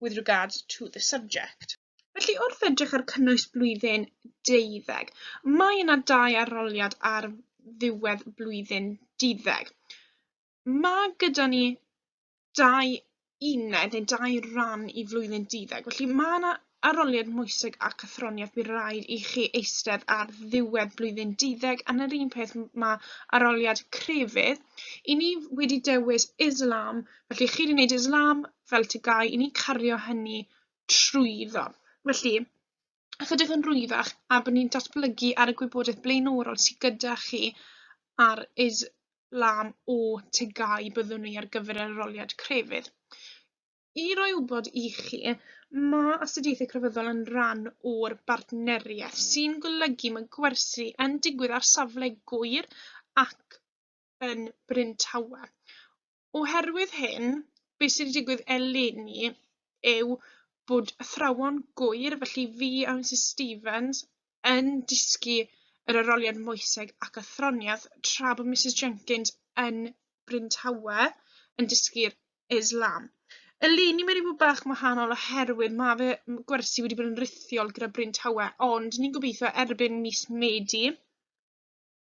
with regards to the subject. Felly, wrth edrych ar cynnwys blwyddyn deuddeg, mae yna dau aroliad ar ddiwedd blwyddyn deuddeg. Mae gyda ni dau uned neu dau ran i flwyddyn deuddeg, felly mae yna aroliad moeseg a cythroniaeth bydd rhaid i chi eistedd ar ddiwedd blwyddyn deuddeg yn yr un peth mae aroliad crefydd. I ni wedi dewis Islam Felly, chi wedi gwneud islam fel tygau, i ni cario hynny trwyddo. Felly, ychydig yn rwyddach a bod ni'n datblygu ar y gwybodaeth blaenorol sydd gyda chi ar islam o tygau byddwn ni ar gyfer yr aroliad crefydd. I roi wybod i chi, mae astudiaethau crefyddol yn rhan o'r bartneriaeth sy'n golygu mae gwersi yn digwydd ar safle gwyr ac yn Bryn Tawe. Oherwydd hyn, be sydd wedi digwydd eleni yw bod athrawon gŵyr, felly fi a Misus Stevens, yn dysgu yr aroliad moeseg ac athroniaeth, tra bod Misus Jenkins yn Bryn Tawe yn dysgu'r Islam. Eleni mae wedi bod bach yn wahanol oherwydd mae fy gwersi wedi bod yn rithiol gyda Bryn Tawe, ond ni'n gobeithio erbyn mis Medi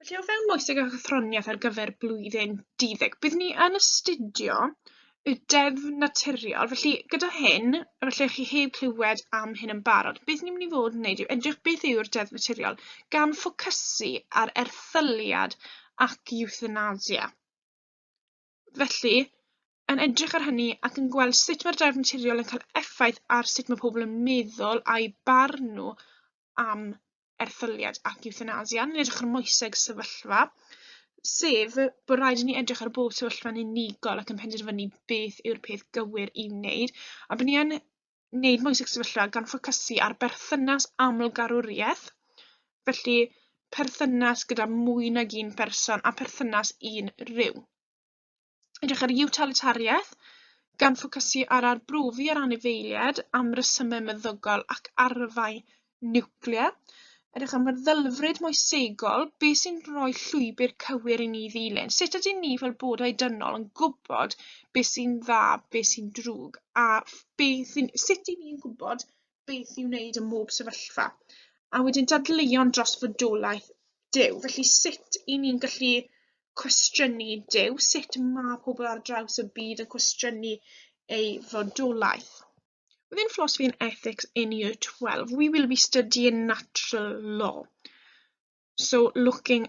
Felly o fewn moeseg a chathroniaeth ar gyfer blwyddyn 12, bydd ni yn astudio y deddf naturiol. Felly gyda hyn, felly chi heb clywed am hyn yn barod, beth ni'n mynd i fod yn wneud yw edrych beth yw'r deddf naturiol gan ffocysu ar erthyliad ac euthanasia. Felly, yn edrych ar hynny ac yn gweld sut mae'r deddf naturiol yn cael effaith ar sut mae pobl yn meddwl a'i barn nhw am erthyliad ac ewthanasia, ni'n edrych ar moeseg sefyllfa, sef bod rhaid i ni edrych ar bob sefyllfa'n unigol ac yn penderfynu beth yw'r peth gywir i wneud, a bod ni yn wneud moeseg sefyllfa gan ffocysu ar berthynas amlgarwriaeth, felly perthynas gyda mwy nag un person a perthynas un rhyw. Edrych ar utilitariaeth, gan ffocysu ar arbrofi ar anifeiliaid am resymau meddygol ac arfau niwclear. Edrych am feddylfryd moesegol, beth sy'n rhoi llwybr cywir i ni ddilyn? Sut ydyn ni fel bodau dynol yn gwybod beth sy'n dda, beth sy'n drwg, a beth sy'n... sut i ni'n gwybod beth i'w wneud ym mhob sefyllfa, a wedyn dadleuon dros fodolaeth Duw. Felly sut i ni'n gallu cwestiynu Duw, sut mae pobl ar draws y byd yn cwestiynu ei fodolaeth. Within Philosophy and Ethics in Year 12, we will be studying natural law. So looking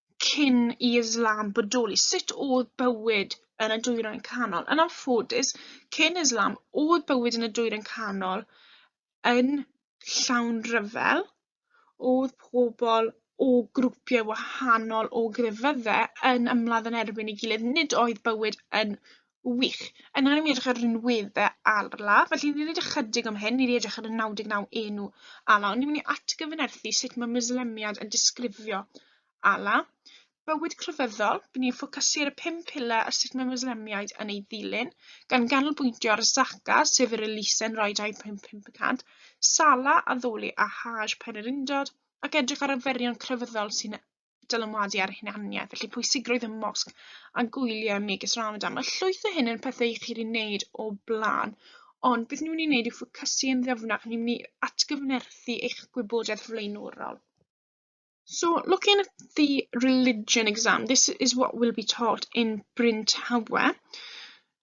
cyn i Islam bodoli, sut oedd bywyd yn y dwyrain canol? Yn anffodus, cyn Islam, oedd bywyd yn y dwyrain canol yn llawn rhyfel, oedd pobl o grwpiau wahanol o grefyddau yn ymladd yn erbyn ei gilydd, nid oedd bywyd yn Wych. A nawr ni'n edrych ar yr enweddau arla, felly ni'n edrych chydig am hyn, ni'n edrych ar y 99 enw ala, ond ni'n mynd i atgyfynerthu sut mae mislemiad yn disgrifio ala. Bywyd crefyddol, bydd ni'n ffocysu ar y pum pile a sut mae mislemiaid yn ei ddilyn, gan ganolbwyntio ar Zaka, sef yr elusen roi 2.5%, Sala, addoli a Haj, pen yr undod, ac edrych ar y ferion crefyddol sy'n dylanwadu ar hunaniaeth, felly pwysigrwydd y mosg a gwyliau megis Ramadan. Mae llwyth o hyn yn pethau i chi'n ei wneud o blaen, ond beth ni'n mynd i wneud yw ffocysu yn ddyfnach, ni'n mynd i atgyfnerthu eich gwybodaeth flaenorol. So looking at the religion exam, this is what will be taught in Bryn Tawe.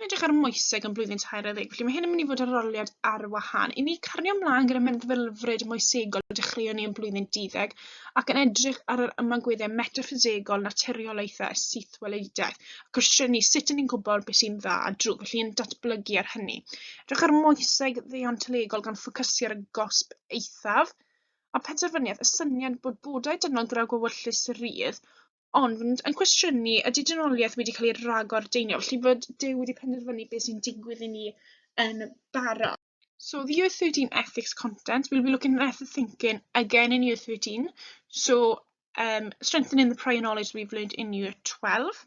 Dwi'n edrych ar moeseg yn blwyddyn tair ar ddeg, felly mae hyn yn mynd i fod yn roliad ar wahân. I ni cario ymlaen gyda meddylfryd moesegol y dechreuon ni yn blwyddyn deuddeg ac yn edrych ar yr ymagweddau metaffisegol naturiolaethau a sythwelediaeth a cwestiynu sut yn ni'n gwybod beth sy'n dda a drwg, felly yn datblygu ar hynny. Edrych ar moeseg ddeontolegol gan ffocysu ar y gosb eithaf a penderfyniad y syniad bod bodau dynol gyda gwewyllus rydd ond yn cwestiynu ydy dynoliaeth wedi cael ei ragordeinio, felly bod Duw wedi penderfynu beth sy'n digwydd i ni yn barod. So the year 13 ethics content, we'll be looking at ethics thinking again in year 13. So um, strengthening the prior knowledge we've learned in year 12.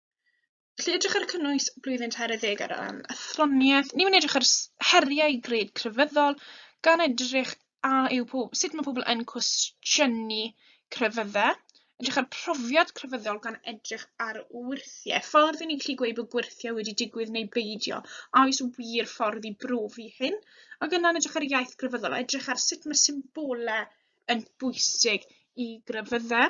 Felly edrych ar cynnwys blwyddyn 20 ar ran athroniaeth, ni'n mynd edrych ar heriau gred crefyddol gan edrych a yw po- sut mae pobl yn cwestiynu crefyddau, edrych ar profiad crefyddol gan edrych ar wyrthiau, ffordd i ni'n gallu gweud bod gwyrthiau wedi digwydd neu beidio, a oes wir ffordd i brofi hyn, ac yna'n edrych ar iaith grefyddol, edrych ar sut mae symbolau yn bwysig i grefyddau.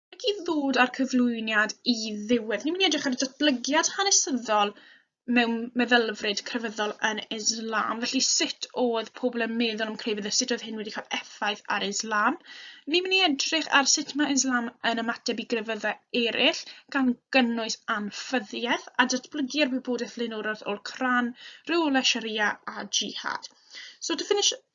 ac i ddod â'r cyflwyniad i ddiwedd. Ni'n mynd i edrych ar y datblygiad hanesyddol mewn meddylfryd crefyddol yn Islam, felly sut oedd pobl yn meddwl am crefydd a sut oedd hyn wedi cael effaith ar Islam. Ni'n mynd i edrych ar sut mae Islam yn ymateb i grefyddau eraill, gan gynnwys anffyddiaeth a datblygu ar wybodaeth lenorol o'r Cran, rheolau Sharia a jihad. So to finish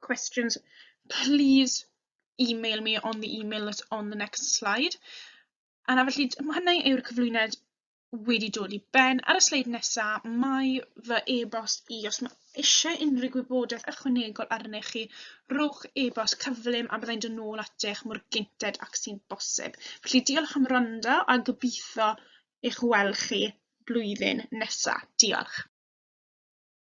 questions, please email me on the email that's on the next slide. A na felly, mae hynny yw'r cyflwyniad wedi dod i ben. Ar y sleid nesaf, mae fy e-bost i. Os mae eisiau unrhyw gwybodaeth ychwanegol arni chi, rhowch e-bost cyflym a byddai'n dod nôl atych mor gynted ac sy'n bosib. Felly diolch am rando a gobeithio eich weld chi blwyddyn nesaf. Diolch.